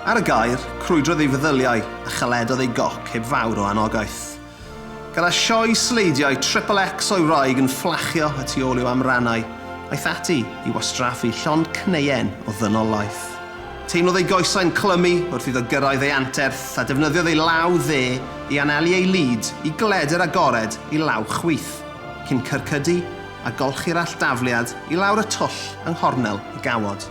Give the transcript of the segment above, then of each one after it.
Ar y gaer, crwydrodd ei feddyliau a chaledodd ei goc heb fawr o anogaeth. Gyda sioe sleidiau triple X o'i wraig yn fflachio y tu ôl i'w amrannau, aeth ati i wastraffu llond cneuen o ddynolaeth. Teimlodd ei goesau'n clymu wrth iddo gyrraedd ei anterth a defnyddiodd ei law dde i anelu ei lid i gledr agored i law chwith, cyn cyrcydu a golchi'r alldafliad i lawr y twll yng nghornel y gawod.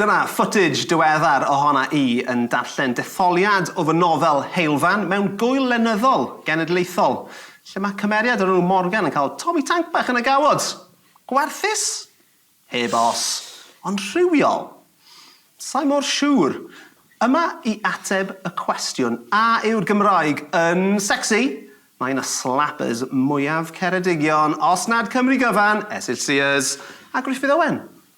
Dyna footage diweddar ohona i yn darllen detholiad o fy nofel Heulfan mewn gŵyl lenyddol genedlaethol, lle mae cymeriad o'r enw Morgan yn cael Tommy Tank bach yn y gawod! Gwarthus? Heb os. Ond rhywiol? Sa i mor siŵr. Yma i ateb y cwestiwn, a yw'r Gymraeg yn secsi? Mae un o slappers mwyaf Ceredigion, os nad Cymru gyfan, Esyll Sears a Gruffydd Owen.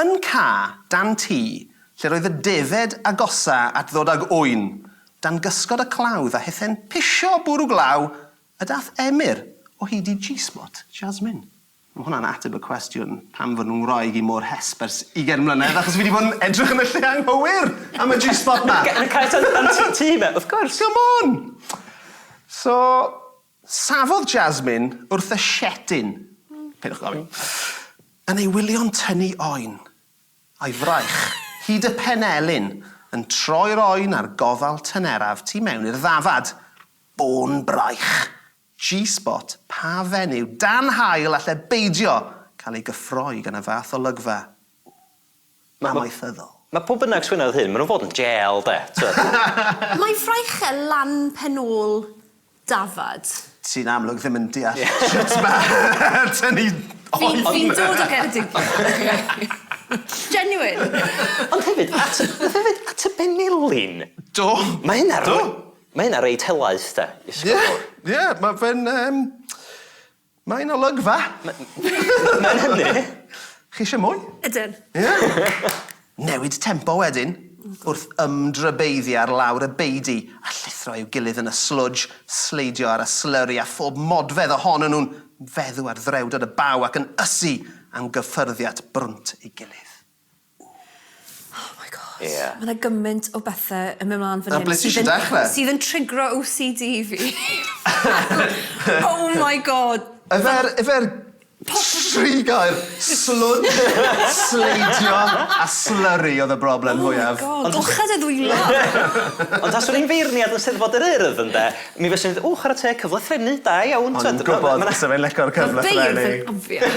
Yn ca dan tŷ, lle roedd y defaid agosa at ddod ag ŵyn, dan gysgod y clawdd a hethe'n pisio bwrw glaw, y dath Emyr o hyd i G-Spot Jasmine. Mae hwnna'n ateb y cwestiwn pam fod fy ngwraig i mor hesb ers ugain mlynedd, achos fi 'di bod yn edrych yn y lle anghywir am y G-Spot 'ma! Yn y cae tan dan tŷ fe, wrth gwrs! Come on! So, Safodd Jasmine wrth y siedyn, peidiwch gofyn, yn ei wylio'n tynnu oen, a'i fraich, hyd y penelin, yn troi'r oen a'r gofal tyneraf tu mewn i'r ddafad. Bôn braich! G-spot pa fenyw dan haul alle beidio cael ei gyffroi gan y fath olygfa? amaethyddol. Mae pwy bynnag sy'n wneud hyn, maen nhw'n fod yn jêl, de, tibod. Mae Fraichel lan pen ôl dafad. Ti'n amlwg ddim yn deall sut mae tynnu oen... Fi'n dod o Geredigion. Genuine. Ond hefyd, at y, hefyd, at y benelin... Do. ...mae hynna... Do. ...mae hynna reit helaeth, de, i sgwrs. Ie, ie, mae fe'n, yym... Mae yna olygfa! Mae'n hynny! Chi eisiau mwy? Ydyn. Newid tempo wedyn, wrth ymdrybeiddio ar lawr y beudy a llithro i'w gilydd yn y slwdj, sleidio ar y slurry a phob modfedd ohonyn nhw'n feddw ar ddrewdod y baw ac yn ysu am gyffyrddiat brwnt ei gilydd. Oh my God. Ie. Ma' 'na gymaint o bethe yn myn' mlan fan hyn... Na, ble ti isie dechre? ...sydd yn triggero OCD fi. Oh my God. Yfe'r yfe'r tri gair, slwd, sleidio a slurry oedd y broblem fwyaf. Oh my God. Golcha dy ddwylo. Ond taswn i'n feirniad yn Steddfod yr Urdd ynde, mi fyswn i'n deud, ww, chwarae teg, cyfle threfnu, da iawn, t'wod... O'n i'n gwbod bysa fe'n lico'r cyfle threfnu. Ma' beirdd yn obvious.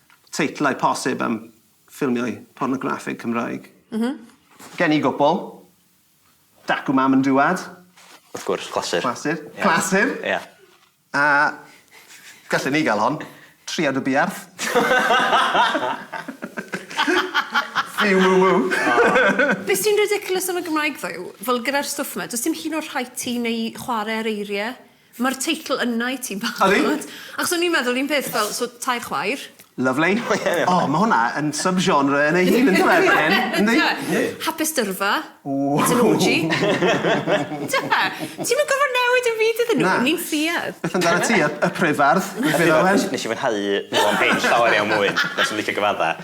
Teitlau posib am ffilmiau pornograffig Cymraeg? M-hm. Gen i gwpl. Dacw Mam yn Dŵad. Wrth gwrs, clasur. Clasur. Clasur! Ia. A gallen ni gael hon. Triad y Buarth. Fyw ww ww. Be sy'n ridiculous am y Gymraeg ddo yw, fel gyda'r stwff 'ma, does dim hyd yn oed rhaid ti neu chwarae ar eiriau. Mae'r teitl yna i ti'n barod. Ydi? Achos o'n i'n meddwl un peth fel, so tair chwaer. Lyfli. O, ma' hwnna yn sub-genre yn ei hun yndyw e, Bryn? Yndi? Yndi. Hapus dyrfa. Ww! It's an orgy. Yndyw e? Ti'm yn gorfod newid dim byd iddyn nhw. Na. Ni'n ffuarth. Beth amdanat ti, y y pryfardd? Nes i fwynhau Hywel Page llawer iawn mwy. Nes i'm licio gyfaddau.